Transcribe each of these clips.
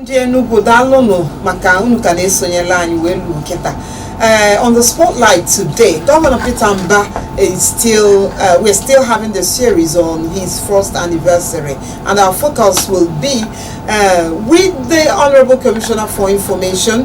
ndị Enugu daalụnụ maka unu ka na-esonyela anyị wee luo kịta Uh, on the spotlight today, Governor Peter Mbah is still, uh, we're still having the series on his first anniversary, and our focus will be uh, with the Honorable Commissioner for Information,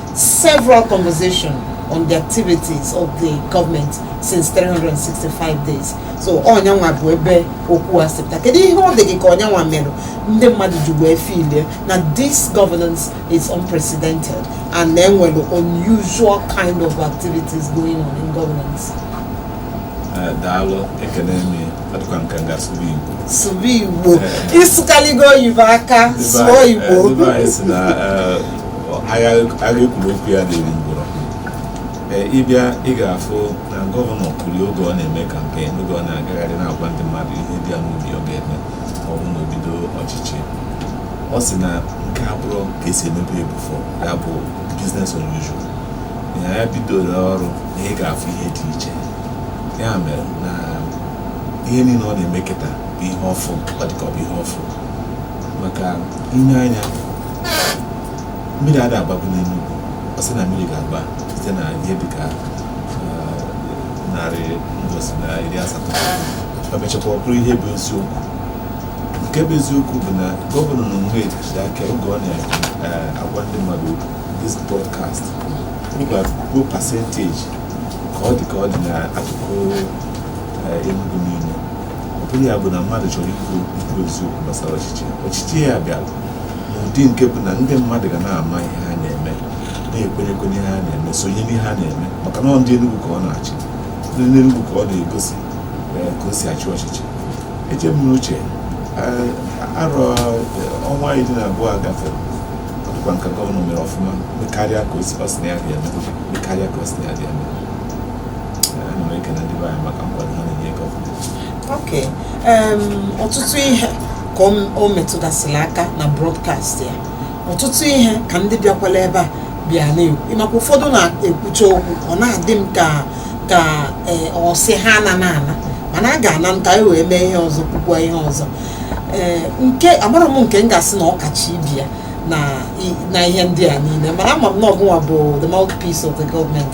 several conversations on the activities of the government since 365 days so ọ nyanwa bụ ebe okwu a si pụta kedu ihe ọ dị gị ka ọ nyanwa mere ndị mmadụ ji wee filie na this governance is unprecedented and na e nwere unusual kind of activities going on in governance Eh, daalụ ekele m gị. ọ dịkwa m ka m ga-asụ gị Igbo sụba igbo ị sụkaligo oyibo ka a sụọ igbo ndị be anyị sị na eh, agha e kwuru okwu ya adị eri ngwụrọ ị bịa ị ga-afụ na gọvanọ kwuru oge ọ na-eme kampen oge ọ na-agagharị na-agwa ndị mmadụ ihe dị ya n'obi ọ ga-eme ma ọ bụ na o bido ọchịchị ọ sị na nke a abụrọ ka e si emebe before ya bụ business unusual na ya bidoro ọrụ na ị ga-afụ ihe dị iche ya mere na ihe niile ọ na-eme kịta bụ ihe ọfụ ọ dị ka ọ bụ ihe ọfụ maka i nee anya mmiri ada agbabu n'Enugu ọ sị na mmiri ga-agba site na ihe dị ka eh, narị mbọsị na iri asatọ e mechakwa ọ bụrụ ihe bụ eziokwu nke bụ eziokwu bụ na gọvanọ n'onwe ji aka oge ọ na-agwa ndị mmadụ okwu, this broadcast bụ percentage ka ọ dị ka ọ dị n'akụkụ eh, Enugu niile bụrụ ya bụ na mmadụ chọrọ ikwu ikwu eziokwu gbasara ọchịchị ọchịchị ya bịara n'ụdị nke bụ na ndị mmadụ ga na-ama ihe ha na-eme na-ekwenyekwa ihe ha na-eme sonye n'ihe ha na-eme maka na ndị Enugu ka ọ na-achị ndị Enugu ka ọ na-egosi eh, ka o si achị ọchịchị eche m n'uche eh, arọ eh, ọnwa iri na abụọ gafere ọ dịkwa m ka gọvanọ mere ọfụma karịa ka ọ sị na ya ga-eme karịa ka ọ sị na ya ga-eme ọtụtụ ihe ka o metụgasịrị aka na broadcast ya ọtụtụ ihe ka ndị bịakwala ebe a bịa na-ekwu maka ụfọdụ na-ekwucha okwu ọ na-adị m ka ka e, ọ sị ha anana ana mana a ga-ana ka e wee mee ihe ọzọ kwukwa ihe ọzọ ee nke amarọ m nke m ga-asị na ọ kacha ibe ya na ihe ndị a niile mana ama m na ọ gịnwa bụ the mouthpiece of the government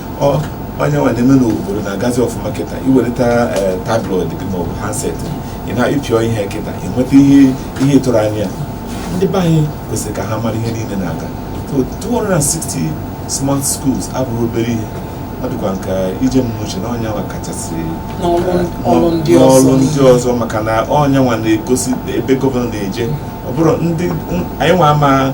onye nwa na-eme n'obodo na-agazi ọfụma kịta iweleta eh, tablet gị maọbụ handset ị na-apịọ ihe kịta inweta ihe ị tụrụ anya ndị be anyị kwesịrị ka ha mara ihe niile na-aga 260 smart schools abụrọ obere ihe ọ dịkwa nke ije m n'uche na onye nwa kachasị n'ọrụ eh, ndị ọzọ maka na onye nwa na-egosi ebe gọvanọ na-eje ọ bụrụ na anyị nwa ama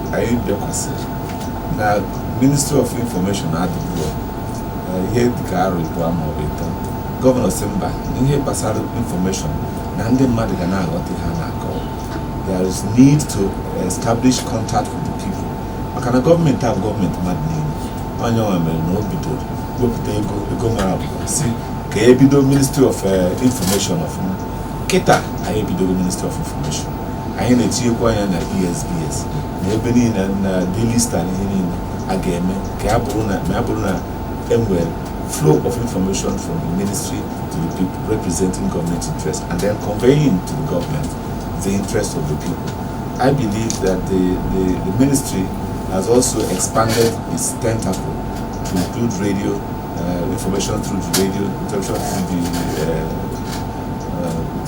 anyị bịakwasị na ministry of information adịburọ ihe dịka arọ ịbụọ ma ọ bụ ịtọ gọvanọ sị mba ihe gbasara information na ndị mmadụ ga na-aghọta ihe a na-akọ there is need to establish contact with the people maka na gọọmenti a bụ gọọmenti mmadụ niile onye nwa mere na o bidoro wepụta ego ego mara abụba sị ka ebido ministry of eh, information ọfụma kịta anyị ebidogo ministry of information anyị na-etinyekwa anya na ESBS na ebe niile na daily star na ihe niile a ga-eme ka ya bụrụ na ma ya bụrụ na enwere flow of information from the ministry to the people representing government interest and then conveying to the government the interest of the people. I believe that the, the, the ministry has also expanded its tentacle to include radio, uh, information through the radio, information through the uh, uh,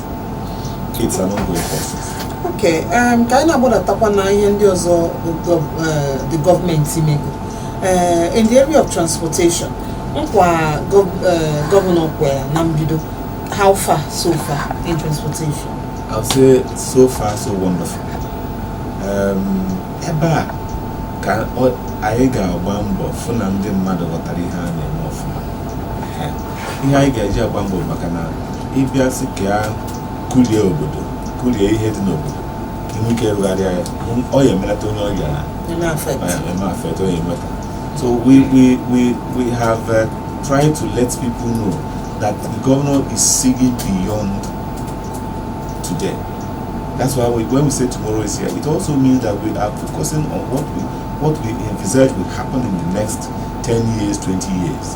It's an ongoing process. Okay, um, ka anyị na-agbadatakwa na ihe ndị ọzọ the uh, gọọmenti mego uh, in the area of transportation nkwa uh, gọvanọ kwere na mbido how far so far in transportation? I would say so far so wonderful. Um, ebe a ka anyị ga-agba mbọ fụ na ndị mmadụ ghọtara ihe a na-eme ọfụma ihe anyị ga-eji agba mbọ maka na ịbịa sị ka ya kulie obodo kulie ihe dị n'obodo ka inwe ike rụgharịa ya ọ ya emelata onye ọrịa na eme affect onye enweta so we we we we have uh, tried to let people know that the governor is seeing beyond today that's why we, when we say tomorrow is here it also means that we are focusing on what we what we envisage will happen in the next 10 years 20 years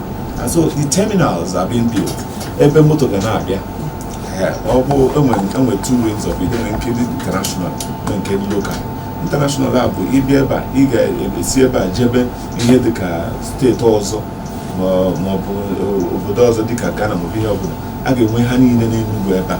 And so the terminals are being built. Ebe moto ga na-abịa. Ọ bụ enwe enwe two wings of it, enwe nke dị international na nke dị local. International a bụ ịbịa ebe a, ị ga-esi ebe a jebe ihe dị ka steeti ọzọ ma ọ bụ obodo ọzọ dị ka Ghana ma ọ bụ ihe ọbụla. A ga-enwe ha niile n'Enugu ebe a.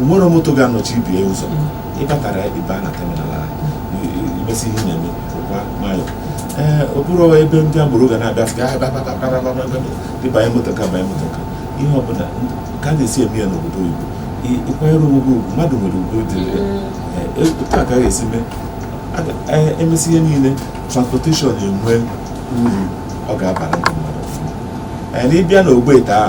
onwere moto ga-anọchi ibe ya ụzọ ị batara ebe a na terminal ahụ imesi ihe na-eme pụkwa nwayọ ee ọ bụrọ ebe ndị agboro ga na-abịa sị gị banye moto ka banye moto ka ihe ọbụla ka a na-esi eme ya n'obodo oyibo ịkwanyere onwe gị ugwu mmadụ nwere ugwu dị otu a ka a ga-esi mee emesi ihe niile transportation enwe uru ọ ga-abara ndị mmadụ ọfụma na ịbịa n'ogbe taa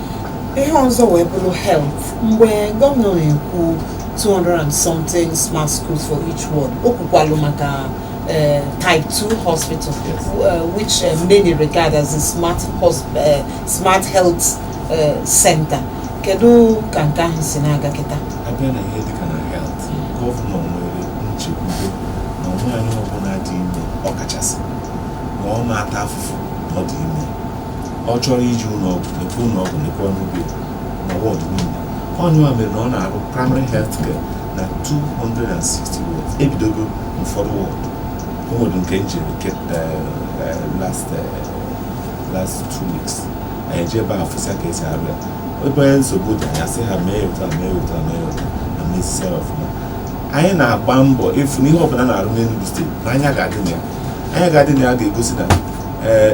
ihe ọzọ wee bụrụ health mgbe gọvanọ na-ekwu 200 and something smart schools for each ward o kwukwalụ maka eh, type 2 hospital Yes. eh, which eh, many regard as a smart, hos- eh, smart health eh, center kedu ka nke ahụ si na-aga kịta a bịa na ihe dịka na health gọvanọ nwere nchekwube na nwaanyị ọbụla dị ime ọkachasị na ọ na-ata afụfụ na ọ dị ime ọ chọrọ ije ụlọ ọgwụ lekwa ụlọ ọgwụ lekwa ọnụ be na ward niile ọ ya nwa mere na ọ na-arụ primary health care na 260 wards e bidogo ụfọdụ ward o nwere nke m jere nke last last two weeks anyị eje ebe a fụsa ka esi arụ ya ebe o nwe nsogbu dị anyị asị ha mee otu a mee otu a mee otu a na mezisi ya ọfụma anyị na-agba mbọ ịfụ na ihe ọbụla a na-arụ n'Enugu steeti na anya ga-adị na ya anya ga-adị na ya ga-egosi na ee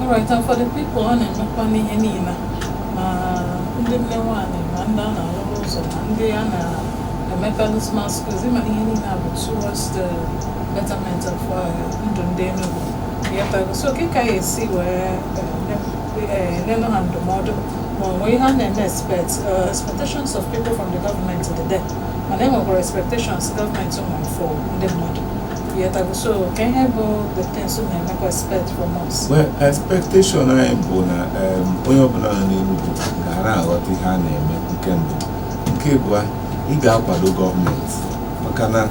Alright, and for the people ọ na-emekwa n'ihe niile ma ndị nne nwaanyị ma ndị a na-arụrụ ụzọ ma ndị a na-emetalụ smart schools ịma na ihe niile a bụ towards the betterment of uh, ndụ ndị Enugu ịghọtago so kee ka ị ga-esi wee nyenụ ha ndụmọdụ ma ọ nwee ihe a na-eme expect uh, expectations of people from the government dị there mana e nwekwara expectations gọọmenti nwere for ndị mmadụ well expectation anyị bụ na onye ọbụla nọ n'Enugu ga na-aghọta ihe a na-eme nke mbụ nke abụọ ị ga-akwado gọọmenti maka na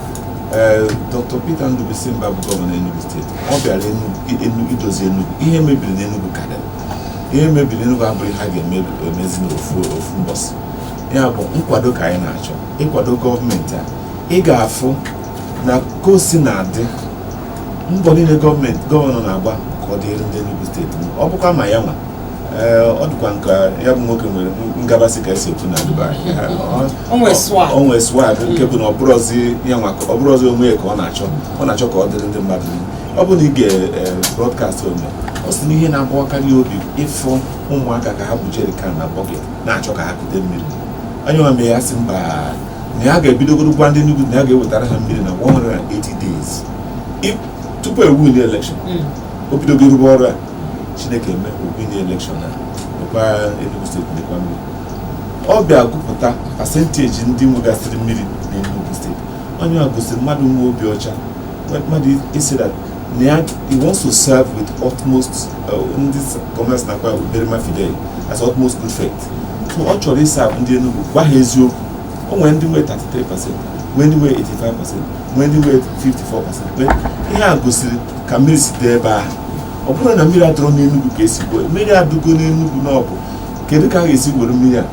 Dr. Peter Ndubuisi Mbah bụ gọvanọ Enugu steeti ọ bịara idozi Enugu ihe mebiri n'Enugu karịrị ihe mebiri n'Enugu abụghị ihe a ga-emezi n'ofu ofu mbọsị ya bụ nkwado ka anyị na-achọ ị kwado gọọmenti a ị ga-afụ na ka o si na-adị mbọ niile gọọmenti gọvanọ na-agba ka ọ dịrị ndị Enugu steeti ọ bụkwa ma ya nwa ọ dịkwa nke ya bụ nwoke nwere ngabasị ka esi ekwu na Dubai o nwee swag nke bụ na ọ bụrọzi onwe ya ka ọ na-achọ ọ na-achọ ka ọ dịrị ndị mmadụ ọ bụ na ị gee broadcast o mere ọ sị na ihe na-agbawakarị ya obi ịfụ ụmụaka ka ha bu jerikan na bọket na-achọ ka ha kute mmiri ọ ya nwa mee ya sị mba na ya ga-ebidogoro gwa ndị Enugu na ya ga-ewetara ha mmiri na 180 days tupu o winie elekshọn hmm. o bidogo rụba ọrụ a Chineke emee o winie elekshọn a mekwa Enugu steeti mekwa mmiri ọ bịa gụpụta pasenteji ndị nwegasịrị mmiri na Enugu steeti onye a gosiri mmadụ nwe obi ọcha mmadụ sị that na ya he wants to serve with utmost uh, ndị commerce na-akpọ uberrima fidei as utmost good faith ọ chọrọ ịserve ndị Enugu gwa ha eziokwu o nwere ndị nwee 33 pasent nwee ndị nwee 85 pasent nwee ndị nwee 54 pasent ihe a gosiri ka mmiri si dị ebe ahụ ọ bụrọ na mmiri adịrọ n'Enugu ka e si kwuo mmiri adịgo n'Enugu na ọ bụ kedu ka a ga-esi were mmiri a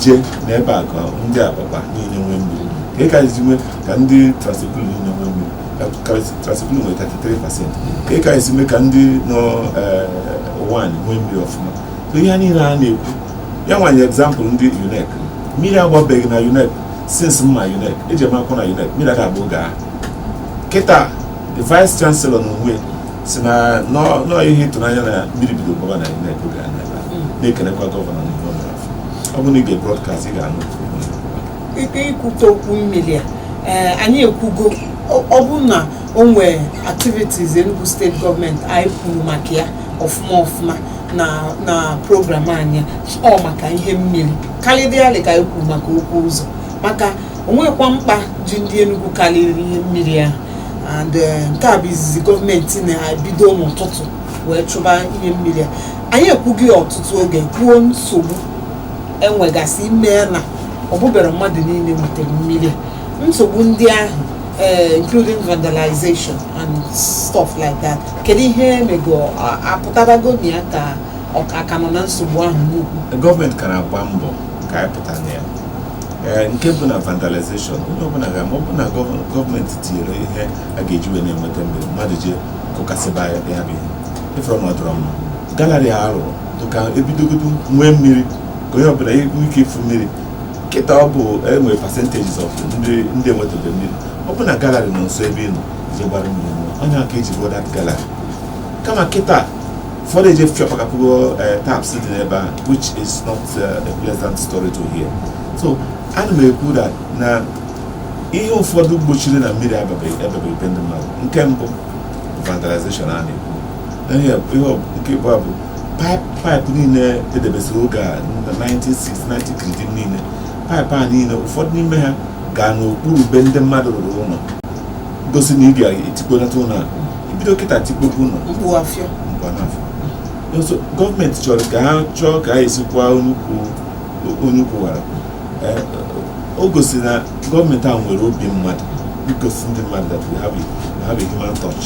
jee na ebe a ka ndị Abakpa niile nwee mmiri kedu ka e si mee ka ndị Trans-Ekulu niile nwee mmiri Trans-Ekulu nwere 33 pasent kedu ka e si mee ka ndị nọ eh, Uwani nwee mmiri ọfụma ihe niile a na-ekwu ya nwa nye egzampụl ndị UNEC mmiri agbabeghị na UNEC since m ma UNEC ejere m akwụkwọ na UNEC mmiri agbabeghị oge ahụ kịta the vice chancellor na onwe sị na na ọ ihe ịtụnanya na mmiri bido gbaba na UNEC oge ahụ na-ekelekwa gọvanọ na ọ bụrụ na ị gee brodkast ị ga-anụ ike ikwute okwu mmiri a eh, anyị ekwugo ọ bụrụ na o nwee activities Enugu steeti gọọmenti anyị kwuru maka ya ọfụma ọfụma na na program anyị ọ maka ihe mmiri karịrịarị ka anyị kwu maka okwu ụzọ maka o nwekwa mkpa ji ndị Enugu karịrị ihe mmiri ahụ and eh, nke a bụ izizi gọọmenti na-ebido n'ụtụtụ wee chụba ihe mmiri a anyị ekwugo ya ọtụtụ oge kwuo nsogbu enwegasịrị mee na ọ bụberọ mmadụ niile nwetara mmiri a nsogbu ndị ahụ eh, including vandalization and stuff like that kedu ihe emego a- apụtabago na ya ka a ka nọ na nsogbu ahụ n'ukwu gọọmenti ka na-agba mbọ ka anyị pụta na ya Ee, nke bụ na vandalization onye ọbụla ga-ama ọ bụ na gọv- gọọmenti tinyere ihe a ga-eji wee na-enweta mmiri mmadụ eje kụkasịba ya ya bụ ihe ị fụrụ na ọ dịrọ mma gallery a rụrụ dịka e bidogodu nwee mmiri ka onye ọbụla nwee ike ịfụ mmiri kịta ọ bụ enwere percentages of ndị ndị enwetabe mmiri ọ bụ na gallery nọ nso ebe ị nọ je gbara mmiri na ọ ya ka e ji rụọ that gallery kama kịta ụfọdụ eje fiọpakapụgo eh, taps dị n'ebe ahụ which is not eh, a pleasant story to hear so ana m ekwu that na ihe ụfọdụ gbochiri na mmiri ababeghị ababeghị be ndị mmadụ nke mbụ vandalization a na-ekwu ihe nke mbụ bụ paịpụ niile edebesịrị oge a na 1960 kridim niile paịpụ a niile ụfọdụ n'ime ha gaa n'okpuru be ndị mmadụ rụrụ ụlọ gosi na ị bịara etikponata ụlọ a ibido kịta tikpopu ụlọ gọọmenti chọrọ ka ha chọọ ka ha esikwa onye ukwu wara eh, o gosi na gọọmenti a nwere obi mmadụ igosi ndị mmadụ that we have a human touch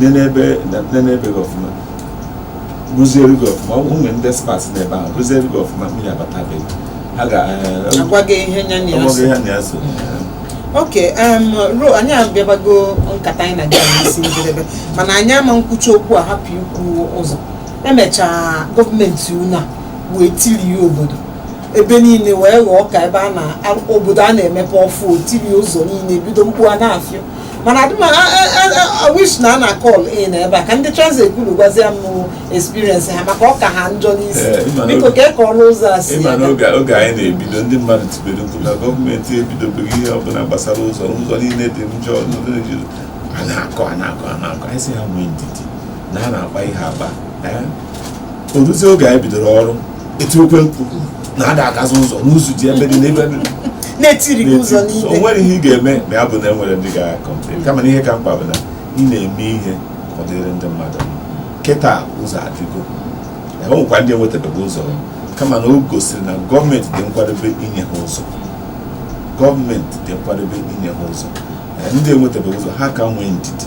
nenee be gị ọfụma rụziere gị ọfụma ụmụ ndị experts n'ebe ahụ rụziere gị ọfụma mmiri abata be gị ha ga-agwa gị eh, ihe nya na ya so okay anyị abịabago nkata anyị na gị isi njedebe mana anyị ama nkwucha okwu a hapụ ikwu ụzọ emechaa gọọmenti unu a wee tirie obodo ebe niile wee ghọọ ka ebe a na obodo a na-emepe ọfụụ tirie ụzọ niile bido mkpu a na-afịọ mana adị m a-wish na a na call in ebe a ka ndị Trans Ekulu gwazie m experience ha maka ọ ka ha njọ n'isi Eh, ị ma na biko oge- ka ọrụ ụzọ a si ị ma na aga. oge oge anyị na-ebido ndị mmadụ tibere mkpu na gọọmenti ebidobeghị ihe ọbụla gbasara ụzọ ụzọ niile dị njọ. a na-akọ a na-akọ a na-akọ anyị sị ha nwee ndidi na a na-akpa ihe akpa Eh? o ruzie oge anyị bidoro ọrụ etiwekwa mkpu na ada agazi ụzọ n'ụzọ dị ebe dị n'ebe dị na etirigo ụzọ niile o nwere ihe ị ga-eme ma ya bụ na enwere ndị ga-complain kama na ihe ka mkpa bụ na ị na-eme ihe ka ọ dịrị ndị mmadụ kịta ụzọ adịgo e nwekwa ndị enwetabeghị ụzọ kama na o gosiri na gọọmenti dị nkwadobe inye ha ụzọ gọọmenti dị nkwadobe inye ha ụzọ ndị enwetabeghị ụzọ ha ka nwee ndidi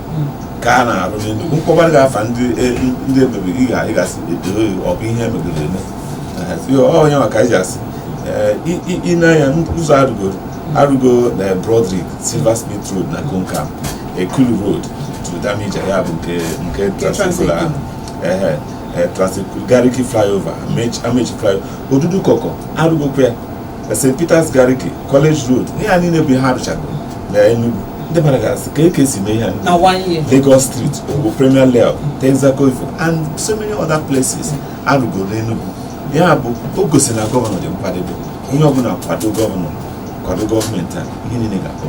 ka a na-arụ n'Enugu m kpọbara gị afa ndị e, emegoro ị ga-asị edoghị ọ bụ ihe emegoro eme onye maka anyị ji asị ị na-anya ụzọ arụgoro arụgo na eh, Broderick Silversmith Road na Coal Camp Ekulu Road to Damija ya bụ nke nke Trans Ekulu ahụ ehe eh, Trans Ekulu Gariki flyover Amechi flyover Odudukoko arụgokwa ya na st peters gariki college road ihe a niile bụ ihe arụchago na enugu ndị mmadụ ga-asị kee ka e si mee ihe a niile. na one year lagos street bụ premier layout texaco ifo and so many other places arụgo n'enugu ya bụ o gosi na gọvanọ dị nkwadobe onye ọbụla kwado gọvanọ kwado gọọmenti a ihe niile ga-akpọ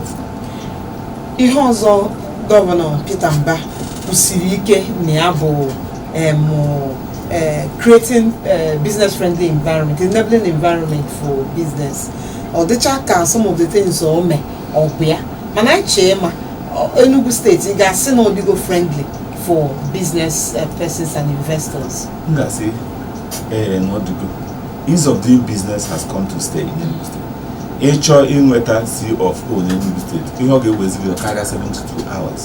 ihe ọzọ gọvanọ Peter Mbah kwusiri ike na ya bụ em, Uh, creating uh, business friendly environment enabling environment for business ọ dịcha ka some of the things o mee ọgwụ ya mana anyị chee ma ọ- Enugu steeti ị ga-asị na ọ dịgo friendly for business uh, persons and investors m ga-asị ee na ọ dịgo ease of doing business has come to stay in Enugu State. ị chọọ inweta C of O n'Enugu steeti ihe ọ ga-eweziri karịa 72 hours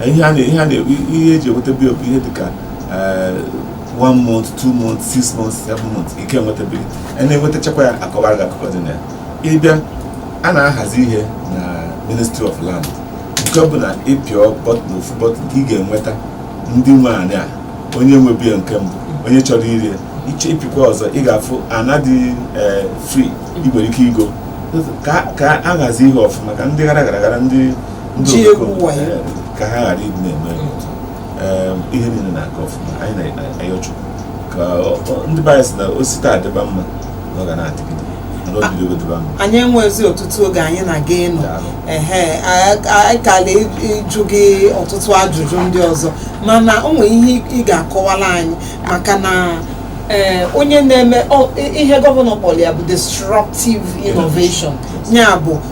ihe a na-eji enweta bụ ihe dịka eh, one month two month six month seven month ị ka enwetabeghị ị na-enwetachakwa ya a kọwara gị akụkọ dị na ya ị bịa a na-ahazi ihe na ministry of land nke ọ bụ na ị pịa bọtịn ofu bọtịn ị ga-enweta ndị nwe anị a onye nwebu ya nke mbụ onye chọrọ ire ya iche ị pịkwa ọzọ ị ga-afụ ana dị eh, free ị nwere ike igo ka a hazi ihe ọfụma ka ndị gara gara gara ndị ji egwu wayo ka ha ghara ịdị na-eme ihe niile na-aga ọfụma anyị na-ayọ chukwu ka ndị be anyị sị na o si taa dịba mma na ọ ga na-adịgide anyị enwezi ọtụtụ oge anyị na gị nọ ehe anyị kala ịjụ gị ọtụtụ ajụjụ ndị ọzọ mana o nwere ihe ị ga-akọwara anyị maka na e, onye na-eme ihe gọvanọ kpọrọ ya bụ disruptive innovation ya bụ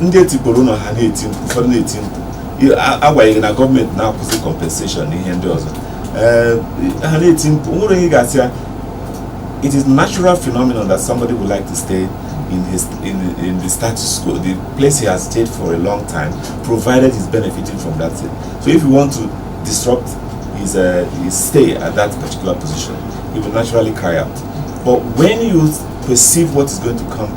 ndị e tikporo ụlọ ha na-eti mkpu ụfọdụ na-eti mkpu agbanyeghị na gọọmenti na-akwụsị compensation na ihe ndị ọzọ ha na-eti mkpu nwere onye ga-asị ya it is natural phenomenon that somebody would like to stay in his in, in the status quo the place he has stayed for a long time provided he's benefiting from that thing so if you want to disrupt his, uh, his stay at that particular position he will naturally cry out but when you perceive what is going to come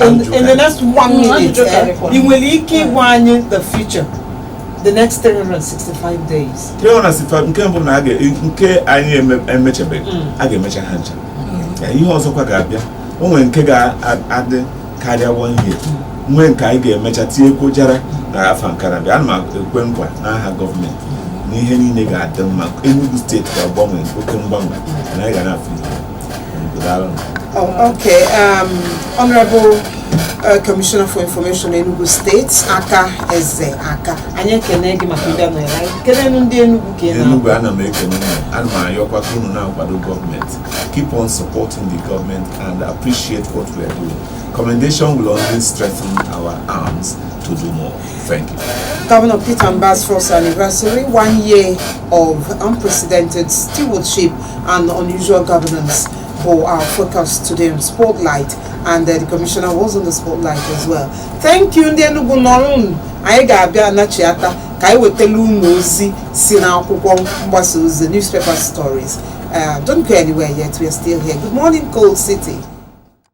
in, in the next one minute eh, ị nwere ike ịgwa anyị the future the next 365 days 365 nke mbụ na nke anyị emechabeghị mm. a ga-emecha ha ncha mm. ihe ọzọkwa ga-abịa o nwere nke ga-adị karịa one year mm. nwee nke anyị ga-emecha tinyekwuo jara na afọ nke na-abịa ana m ekwe nkwa n'aha gọọmenti na ihe niile ga-adị mma Enugu steeti ga-agbanwe oke mgbanwe na anyị ga na-afụ ihe Oh, okay. Um, Honorable uh, Commissioner for Information Enugu State, Aka Eze Aka. Anyị ekene gị maka ndị mere anyị. Kene ndị Enugu ka ị naa. Enugu ana m ekene unu ana m ayọkwa ka unu na-akwado gọọmenti keep on supporting the government and appreciate what we are doing commendation will only strengthen our arms to do more Thank you. Governor Peter Mba's first anniversary, one year of unprecedented stewardship and unusual governance for our focus today on Spotlight. And uh, the commissioner was on the spotlight as well. Thank you, ndị Enugu nọrọ unu. Anyị ga-abịa anachiata ka anyị wetala unu ozi si n'akwụkwọ mgbasa ozi newspaper stories. Uh, don't go anywhere yet, we are still here. Good morning, Cold City.